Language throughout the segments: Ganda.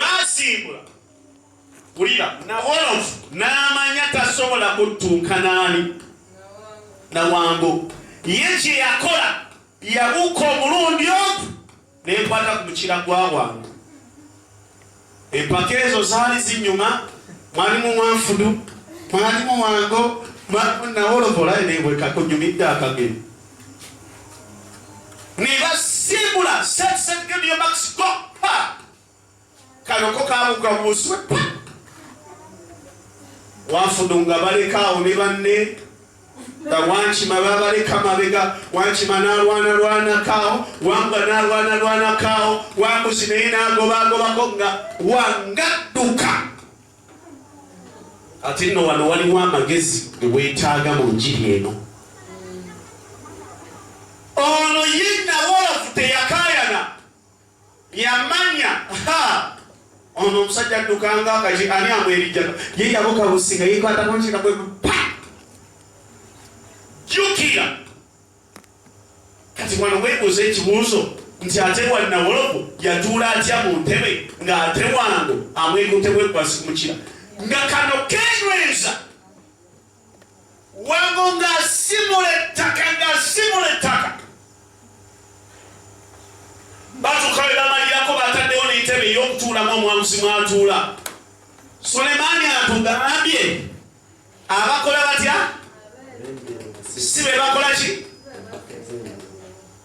baasimbula wulira nawolovu n'amanya tasobola kuttuuka naani nawango ye kye yakola yabuuka omulundi ogu nenkwata ku mukira gwa wange empaka ezo zaali zinyuma mwalimu mwanfudu mwalimu wango mwalimu nawolovu olaye nebwekakunyumidde akageni nebasimbula setisetgediyo max go kano ko kabuka buswe wafudu nga balekaawo ne banne nga wankima babaleka mabega wankima nalwana lwanakaawo wamba nalwana lwanakaawo wambuzi naye nagobagobako nga wangadduka ate nno wano waliwo amagezi gewetaaga mu njiri eno yamanya ono omusajja addukanga akaki ani amwerijjano ye yabuka businga yekwatako nkiga kwe pa jukira kati wano webuuza ekibuuzo nti ate wannawolovu yatuula atya mu ntebe ng'ate wango amwegutebwegwasimukira nga kano kenyweza wango ng'asimula ettaka ng'asimula ettaka batuuka be bamalirako bataddewo n'entebe ey'okutuulamu omwamuzi mwatuula sulemaani atugambye abakola batya si be bakola ki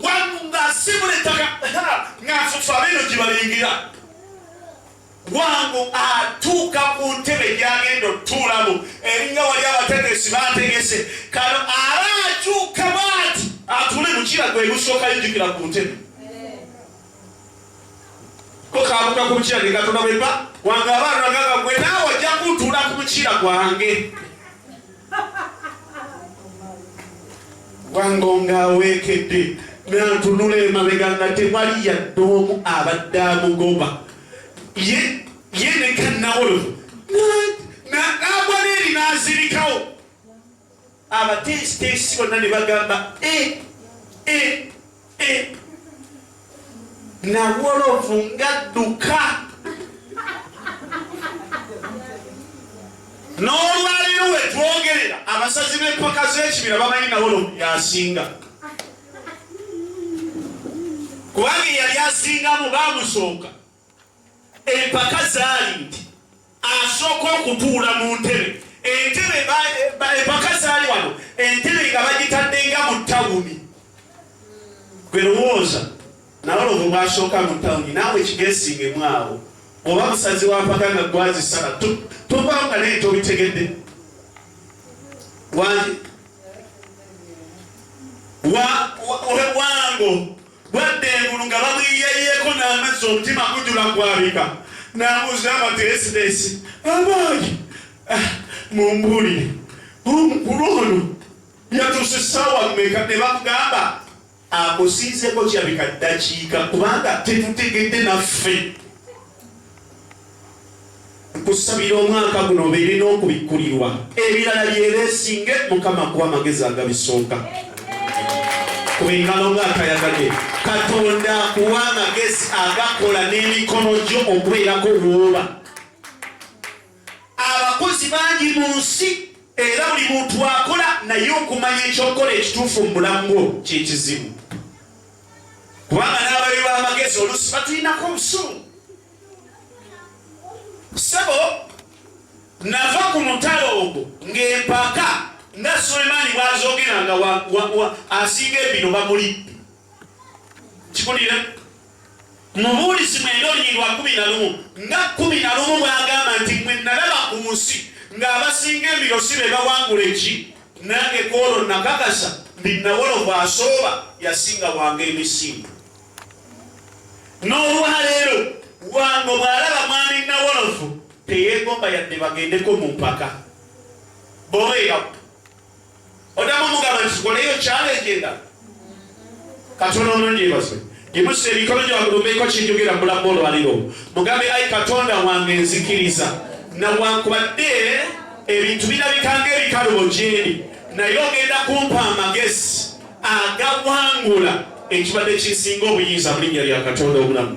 wangu ng'asiibula ettaka ng'afufa bino gye balingira wangu atuuka ku ntebe gyagenda otuulamu eringa wali abategesi bategese kano aba akyuka bwati atule mukira gwe gusooka yijukira ku ntebe kokabuka ku mukira ge katonda bweba wange abaana gaga gwe naawe ojja kuntuula ku mukira gwange wangonga aweekedde nantunula emabega nga tewali yadde omu abadde amugoba ye ye nekanawolovu nagwa neeri nazirikawo abateesiteesi bonna ne bagamba e e nawolovu ngadduka n'olwaleero wetwogerera abasazi b'empaka z'ekibira bamanyi nawolovu yasinga kubanga eyali asingamu bamusooka empaka zaali nti asooka okutuula mu ntebe entebe empaka zaali wano entebe nga bagitaddenga mu tawuni gwe lowooza nabalovu bwasooka mu tawuni naawe kigesingemu awo oba musazi wampaka nga gwazisala tovaawo nga naye tobitegedde wange wango Bwadda engulu nga bamwiyayeeko n'amazzi omutima gujula gwabika n'abuuza abateesideesi abaali ah, mumbuulire omukulu ono yatuuse ssaawa mmeka ne bamugamba akusinzeko kyabika ddakiika kubanga tetutegedde naffe nkusabira omwaka guno obeere n'okubikkulirwa ebirala byebeesinge mukama kuba amagezi agabisooka kuba engalo ngaatayagade katonda akuwa amagezi agakola n'emikono gyo okubeerako wooba abakozi bangi mu nsi era buli muntu akola naye okumanya ekyokukola ekituufu mu bulamu bwo kyekizibu kubanga n'ababi b'amagezi oluusi batulinako obusungu sebo nava ku mutalo ogwo ng'empaka nga sulemaani bwazogera nga asinga ebino bamulidde kikulira mubuulizi mwenda olunyiri lwa kumi na lumu nga kumi na lumu bwagamba nti mwe nalaba ku nsi ng'abasinga ebiro si be bawangula eki Nange kwolwo nakakasa nti Nawolo bw'asooba yasinga Wango emisinde. N'olwaleero Wango bw'alaba mwami Nawolovu teyeegomba yadde bagendeko mu mpaka. Boweyaku odamu omugamba nti zikoleyo challenge endala. katonda omulungi yebazibwe gimusa emikono gyewagulumbeeko kinjogera mulamu olwaliro mugambe ai katonda wange nzikiriza nawankubadde ebintu birabikanga ebikalubo gyendi naye ogenda kumpa amagezi agawangula ekibadde kisinga obuyinza mu linnya lya katonda obulamu